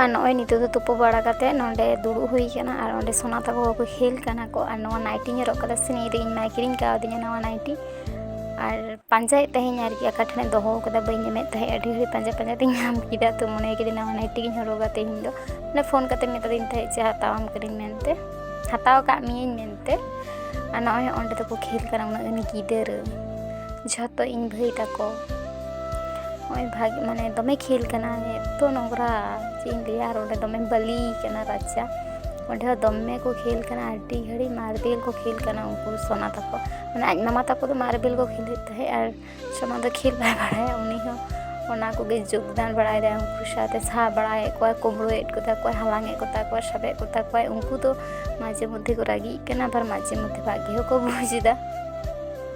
ᱟᱨ ᱱᱚᱜᱼᱚᱭ ᱱᱤᱛᱚᱜ ᱫᱚ ᱛᱩᱯᱩ ᱵᱟᱲᱟ ᱠᱟᱛᱮ ᱱᱚᱸᱰᱮ ᱫᱩᱲᱩᱵ ᱦᱩᱭ ᱠᱟᱱᱟ ᱟᱨ ᱚᱸᱰᱮ ᱥᱳᱱᱟ ᱛᱟᱠᱚ ᱠᱚ ᱠᱷᱮᱞ ᱠᱟᱱᱟ ᱠᱚ ᱟᱨ ᱱᱚᱣᱟ ᱱᱟᱭᱴᱤᱧ ᱦᱚᱨᱚᱜ ᱠᱟᱫᱟ ᱥᱮ ᱱᱤᱭᱟᱹ ᱫᱚ ᱤᱧ ᱢᱟᱭ ᱠᱤᱨᱤᱧ ᱠᱟᱣᱫᱤᱧᱟ ᱱᱚᱣᱟ ᱱᱟᱭᱴᱤ ᱟᱨ ᱯᱟᱸᱡᱟᱭᱮᱫ ᱛᱟᱦᱮᱱᱤᱧ ᱟᱨᱠᱤ ᱚᱠᱟ ᱴᱷᱮᱱᱮ ᱫᱚᱦᱚ ᱠᱟᱫᱟ ᱵᱟᱹᱧ ᱧᱟᱢᱮᱫ ᱛᱟᱦᱮᱸᱫ ᱟᱹᱰᱤ ᱜᱷᱟᱹᱲᱤᱡ ᱯᱟᱸᱡᱟ ᱯᱟᱸᱡᱟ ᱛᱤᱧ ᱧᱟᱢ ᱠᱮᱫᱟ ᱛᱚ ᱢᱚᱱᱮ ᱠᱤᱫᱟᱹᱧ ᱱᱟᱣᱟ ᱱᱟᱭᱴᱤ ᱜᱤᱧ ᱦᱚᱨᱚᱜᱟ ᱛᱮᱦᱮᱧ ᱫᱚ ᱢᱟᱱᱮ ᱯᱷᱳᱱ ᱠᱟᱛᱮ ᱢᱮᱛᱟᱫᱤᱧ ᱛᱟᱦᱮᱸᱫ ᱡᱮ ᱦᱟᱛᱟᱣᱟᱢ ᱠᱟᱹᱱᱟᱹᱧ ᱢᱮᱱᱛᱮ ᱦᱟᱛᱟᱣ ᱠᱟᱜ ᱢᱤᱭᱟᱹᱧ ᱢᱮᱱᱛᱮ ᱟᱨ ᱱᱚᱜᱼᱚᱭ ᱚᱸᱰᱮ ᱫᱚᱠᱚ ᱠᱷᱮᱞ ᱠᱟᱱᱟ ᱩᱱᱟᱹᱜ ᱜᱟᱱ ᱜᱤᱫᱟᱹᱨ ᱡᱷᱚᱛᱚ ᱤᱧ ᱵᱷᱟᱹᱭ ᱛᱟᱠᱚ ᱱᱚᱜᱼᱚᱭ ᱵᱷᱟᱜᱮ ᱢᱟᱱᱮ ᱫᱚᱢᱮ ᱠᱷᱮᱞ ᱠᱟᱱᱟ ᱮᱛᱚ ᱱᱚᱝᱨᱟ ᱪᱮᱫ ᱤᱧ ᱞᱟᱹᱭᱟ ᱟᱨ ᱚᱸᱰᱮ ᱫᱚᱢᱮ ᱵᱟᱹᱞᱤ ᱠᱟᱱᱟ ᱨᱟᱪᱟ ᱚᱸᱰᱮ ᱦᱚᱸ ᱫᱚᱢᱮ ᱠᱚ ᱠᱷᱮᱞ ᱠᱟᱱᱟ ᱟᱹᱰᱤ ᱜᱷᱟᱹᱲᱤᱡ ᱢᱟᱨᱵᱮᱞ ᱠᱚ ᱠᱷᱮᱞ ᱠᱟᱱᱟ ᱩᱱᱠᱩ ᱥᱳᱱᱟ ᱛᱟᱠᱚ ᱢᱟᱱᱮ ᱟᱡ ᱢᱟᱢᱟ ᱛᱟᱠᱚ ᱫᱚ ᱢᱟᱨᱵᱮᱞ ᱠᱚ ᱠᱷᱮᱞᱮᱫ ᱛᱟᱦᱮᱸᱫ ᱟᱨ ᱥᱳᱱᱟ ᱫᱚ ᱠᱷᱮᱞ ᱵᱟᱭ ᱵᱟᱲᱟᱭᱟ ᱩᱱᱤ ᱦᱚᱸ ᱚᱱᱟ ᱠᱚᱜᱮ ᱡᱳᱜᱽᱫᱟᱱ ᱵᱟᱲᱟᱭᱮᱫᱟᱭ ᱩᱱᱠᱩ ᱥᱟᱶᱛᱮ ᱥᱟᱦᱟ ᱵᱟᱲᱟᱭᱮᱫ ᱠᱚᱣᱟᱭ ᱠᱩᱢᱵᱽᱲᱩᱭᱮᱫ ᱠᱚᱛᱟ ᱠᱚᱣᱟᱭ ᱦᱟᱞᱟᱝᱮᱫ ᱠᱚᱛᱟ ᱠᱚᱣᱟᱭ ᱥᱟᱵᱮᱫ ᱠᱚᱛᱟ ᱠᱚᱣᱟᱭ ᱩᱱᱠᱩ ᱫᱚ ᱢᱟᱡᱷᱮ ᱢᱚᱫᱽᱫᱷᱮ ᱠᱚ ᱨᱟᱹᱜᱤᱜ ᱠᱟᱱᱟ ᱟᱵᱟᱨ ᱢᱟᱡᱷᱮ ᱢᱚᱫᱽᱫᱷᱮ ᱵᱷᱟᱜᱮ ᱦᱚᱸᱠᱚ ᱵᱩᱡᱽ ᱮᱫᱟ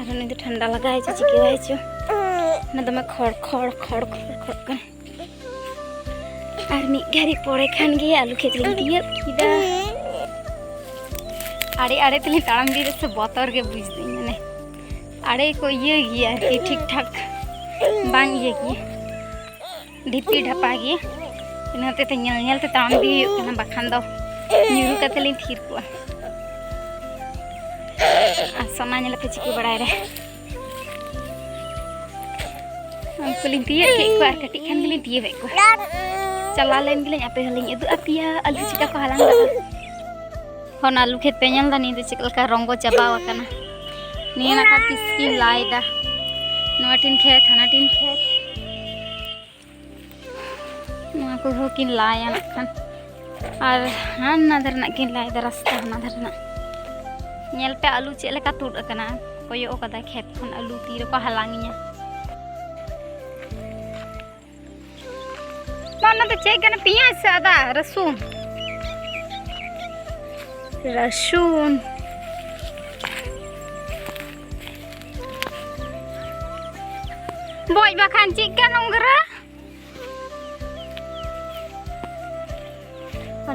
ᱟᱨ ᱩᱱᱤ ᱫᱚ ᱴᱷᱟᱱᱰᱟ ᱞᱟᱜᱟᱣ ᱦᱚᱪᱚ ᱪᱤᱠᱟᱹᱣ ᱦᱚᱪᱚ ᱚᱱᱟ ᱫᱚᱢᱮ ᱠᱷᱚᱲ ᱠᱷᱚᱲ ᱠᱷᱚᱲ ᱠᱷᱚᱲ ᱠᱷᱚᱲ ᱠᱟᱱᱟ ᱟᱨ ᱢᱤᱫ ᱜᱷᱟᱹᱲᱤ ᱯᱚᱨᱮ ᱠᱷᱟᱱ ᱜᱮ ᱟᱞᱩ ᱠᱷᱮᱛ ᱞᱤᱧ ᱛᱤᱭᱟᱹᱜ ᱠᱮᱫᱟ ᱟᱲᱮ ᱟᱲᱮ ᱛᱮᱞᱤᱧ ᱛᱟᱲᱟᱢ ᱤᱫᱤ ᱨᱮᱥᱮ ᱵᱚᱛᱚᱨ ᱜᱮ ᱵᱩᱡᱽ ᱫᱟᱹᱧ ᱢᱟᱱᱮ ᱟᱲᱮ ᱠᱚ ᱤᱭᱟᱹ ᱜᱮᱭᱟ ᱟᱨᱠᱤ ᱴᱷᱤᱠ ᱴᱷᱟᱠ ᱵᱟᱝ ᱤᱭᱟᱹ ᱜᱮᱭᱟ ᱰᱷᱤᱯᱤ ᱰᱷᱟᱯᱟ ᱜᱮ ᱤᱱᱟᱹ ᱦᱚᱛᱮᱛᱮ ᱧᱮᱞ ᱧᱮᱞ ᱛᱮ ᱛᱟᱲᱟᱢ ᱤᱫᱤ ᱦᱩᱭᱩᱜ ᱠᱟᱱᱟ ᱵᱟᱠᱷᱟᱱ ᱫᱚ ᱧᱩᱨᱩ ᱠᱟᱛᱮ ᱞᱤᱧ ᱛᱷᱤᱨ ᱠᱚᱜᱼᱟ ᱟᱨ ᱥᱚᱱᱟ ᱧᱮᱞ ᱯᱮ ᱪᱤᱠᱟᱹ ᱵᱟᱲᱟᱭ ᱨᱮ ᱩᱱᱠᱩ ᱞᱤᱧ ᱛᱤᱭᱟᱹᱜ ᱠᱮᱫ ᱠᱚᱣᱟ ᱟᱨ ᱠᱟᱹᱴᱤᱡ ᱠᱷᱟᱱ ᱜᱮᱞᱤᱧ ᱛᱤᱭᱟᱹᱜ ᱮᱫ ᱠᱚᱣᱟ ᱪᱟᱞᱟᱣ ᱞᱮᱱ ᱜᱮᱞᱤᱧ ᱟᱯᱮ ᱦᱚᱸᱞᱤᱧ ᱩᱫᱩᱜ ᱟᱯᱮᱭᱟ ᱟᱹᱞᱩ ᱪᱤᱠᱟ ᱠᱚ ᱦᱟᱞᱟᱝ ᱫᱟᱠᱚ ᱦᱚᱱ ᱟᱞᱩ ᱠᱷᱮᱛ ᱯᱮ ᱧᱮᱞ ᱫᱟ ᱱᱤᱭᱟᱹ ᱫᱚ ᱪᱮᱫ ᱞᱮᱠᱟ ᱨᱚᱝᱜᱚ ᱪᱟᱵᱟ ᱟᱠᱟᱱᱟ ᱱᱤᱭᱟᱹ ᱱᱟᱠᱟ ᱠᱤᱥᱠᱤ ᱞᱟᱭ ᱫᱟ ᱱᱚᱣᱟ ᱴᱤᱱ ᱠᱷᱮᱛ ᱦᱟᱱᱟ ᱴᱤᱱ ᱠᱷᱮᱛ ᱱᱚᱣᱟ ᱠᱚ ᱦᱚᱸ ᱠᱤᱱ ᱞᱟᱭᱟ ᱱᱟᱜ ᱠᱷᱟᱱ ᱟᱨ ᱦᱟᱱᱟ ᱫᱷᱟᱨᱮ ᱱᱟᱜ ᱠᱤᱱ ᱞᱟᱭ ᱫᱟ ᱨᱟᱥᱛᱟ ᱦᱟᱱᱟ ᱫᱷᱟᱨᱮ ᱱᱟᱜ ᱧᱮᱞ ᱯᱮ ᱟᱞᱩ ᱪᱮᱫ ᱞᱮᱠᱟ ᱛᱩᱫ ᱟᱠᱟᱱᱟ ᱠᱚᱭᱚᱜ ᱟᱠᱟᱫᱟ ᱠᱷᱮᱛ ᱠᱷᱚᱱ ᱟᱞᱩ ᱛᱤ ᱨᱮᱠᱚ ᱦᱟᱞᱟᱝᱤᱧᱟ ᱚᱱᱟ ᱫᱚ ᱪᱮᱫ ᱠᱟᱱᱟ ᱯᱮᱸᱭᱟᱡᱽ ᱥᱮ ᱟᱫᱟ ᱨᱟᱹᱥᱩᱱ ᱨᱟᱹᱥᱩᱱ ᱵᱚᱡ ᱵᱟᱠᱷᱟᱱ ᱪᱮᱫ ᱠᱟ ᱱᱚᱝᱨᱟ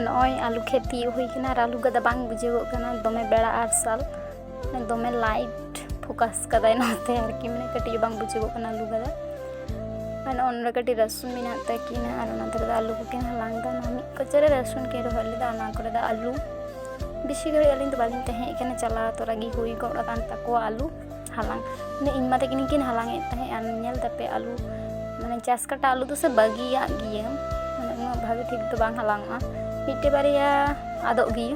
ᱱᱚᱜᱼᱚᱭ ᱟᱞᱩ ᱠᱷᱮᱛ ᱛᱤᱭᱳᱜ ᱦᱩᱭ ᱠᱟᱱᱟ ᱟᱨ ᱟᱞᱩ ᱜᱟᱫᱟ ᱵᱟᱝ ᱵᱩᱡᱷᱟᱹᱣᱚᱜ ᱠᱟᱱᱟ ᱫᱚᱢᱮ ᱵᱮᱲᱟ ᱟᱨᱥᱟᱞ ᱫᱚᱢᱮ ᱞᱟᱭᱤᱴ ᱯᱷᱳᱠᱟᱥ ᱠᱟᱫᱟᱭ ᱱᱚᱛᱮ ᱟᱨᱠᱤ ᱢᱟᱱᱮ ᱠᱟᱹᱴᱤᱡ ᱵᱟᱝ ᱵᱩᱡᱩᱜᱚᱜ ᱠᱟᱱᱟ ᱟᱹᱞᱩ ᱵᱷᱟᱡᱟ ᱟᱨ ᱱᱚᱜᱼᱚ ᱱᱚᱰᱮ ᱠᱟᱹᱴᱤᱡ ᱨᱟᱹᱥᱩᱱ ᱢᱮᱱᱟᱜ ᱛᱟᱹᱠᱤᱱᱟ ᱟᱨ ᱚᱱᱟ ᱫᱷᱟᱨᱮ ᱫᱚ ᱟᱹᱞᱩ ᱠᱚᱠᱤᱱ ᱦᱟᱞᱟᱝ ᱫᱟ ᱚᱱᱟ ᱢᱤᱫ ᱠᱚᱪᱟᱨᱮ ᱨᱟᱹᱥᱩᱱ ᱠᱤᱱ ᱨᱚᱦᱚᱭ ᱞᱮᱫᱟ ᱚᱱᱟ ᱠᱚᱨᱮ ᱫᱚ ᱟᱹᱞᱩ ᱵᱮᱥᱤ ᱜᱷᱟᱹᱲᱤᱡ ᱟᱹᱞᱤᱧ ᱫᱚ ᱵᱟᱹᱞᱤᱧ ᱛᱟᱦᱮᱸ ᱠᱟᱱᱟ ᱪᱟᱞᱟᱣ ᱛᱚᱨᱟ ᱜᱮ ᱦᱩᱭ ᱜᱚᱫ ᱟᱠᱟᱱ ᱛᱟᱠᱚᱣᱟ ᱟᱹᱞᱩ ᱦᱟᱞᱟᱝ ᱢᱟᱱᱮ ᱤᱧ ᱢᱟ ᱛᱟᱹᱠᱤᱱ ᱠᱤᱱ ᱦᱟᱞᱟᱝ ᱮᱫ ᱛᱟᱦᱮᱸᱫ ᱟᱨ ᱧᱮᱞ ᱛᱟᱯᱮ ᱟᱹᱞᱩ ᱢᱟᱱᱮ ᱪᱟᱥ ᱠᱟᱴᱟ ᱟᱹᱞᱩ ᱫᱚ ᱥᱮ ᱵᱟᱹᱜᱤᱭᱟᱜ ᱜᱮᱭᱟ ᱢᱟᱱᱮ ᱩᱱᱟᱹᱜ ᱵᱷᱟᱜᱮ ᱴᱷᱤᱠ ᱫᱚ ᱵᱟᱝ ᱦᱟᱞᱟᱝᱚᱜᱼᱟ ᱢᱤᱫᱴᱮᱡ ᱵᱟᱨᱭᱟ ᱟᱫᱚᱜ ᱜᱮᱭᱟ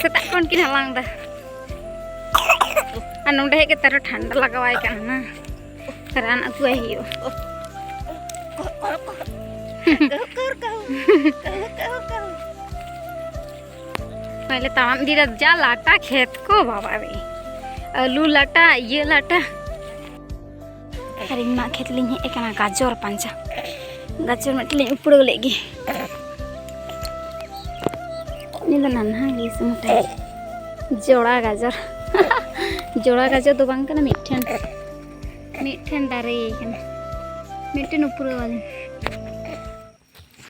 ᱥᱮᱛᱟᱜ ᱠᱷᱚᱱ ᱠᱤᱱ ᱦᱟᱞᱟᱝ ᱫᱟ ᱟᱨ ᱱᱚᱰᱮ ᱦᱮᱡ ᱠᱟᱛᱮ ᱟᱨᱚ ᱴᱷᱟᱱᱰᱟ ᱞᱟᱜᱟᱣᱟᱭ ᱠᱟᱱᱟ ᱨᱟᱱ ᱟᱹᱜᱩᱣᱟᱭ ᱦᱩᱭᱩᱜᱼᱟ ᱱᱚᱜᱼᱚᱭ ᱞᱮ ᱛᱟᱲᱟᱢ ᱤᱫᱤᱭᱮᱫᱟ ᱡᱟ ᱞᱟᱴᱟ ᱠᱷᱮᱛ ᱠᱚ ᱵᱟᱵᱟ ᱨᱮ ᱟᱹᱞᱩ ᱞᱟᱴᱟ ᱤᱭᱟᱹ ᱞᱟᱴᱟ ᱟᱨ ᱤᱧ ᱢᱟ ᱠᱷᱮᱛ ᱞᱤᱧ ᱦᱮᱡ ᱟᱠᱟᱱᱟ ᱜᱟᱡᱚᱨ ᱯᱟᱸᱡᱟ ᱜᱟᱡᱚᱨ ᱢᱤᱫᱴᱮᱱ ᱞᱤᱧ ᱩᱯᱲᱟᱹᱣ ᱞᱮᱫ ᱜᱮ ᱩᱱᱤ ᱫᱚ ᱱᱟᱱᱦᱟ ᱜᱮ ᱥᱩᱢᱩᱴᱟᱭ ᱡᱚᱲᱟ ᱜᱟᱡᱚᱨ ᱡᱚᱲᱟ ᱜᱟᱡᱚᱨ ᱫᱚ ᱵᱟᱝ ᱠᱟᱱᱟ ᱢᱤᱫᱴᱷᱮᱱ ᱢᱤᱫᱴᱷᱮᱱ ᱫᱟᱨᱮ ᱠᱟᱱᱟ ᱢᱤᱫᱴᱮᱱ ᱩᱯᱲᱟᱹᱣ ᱟᱹᱞᱤᱧ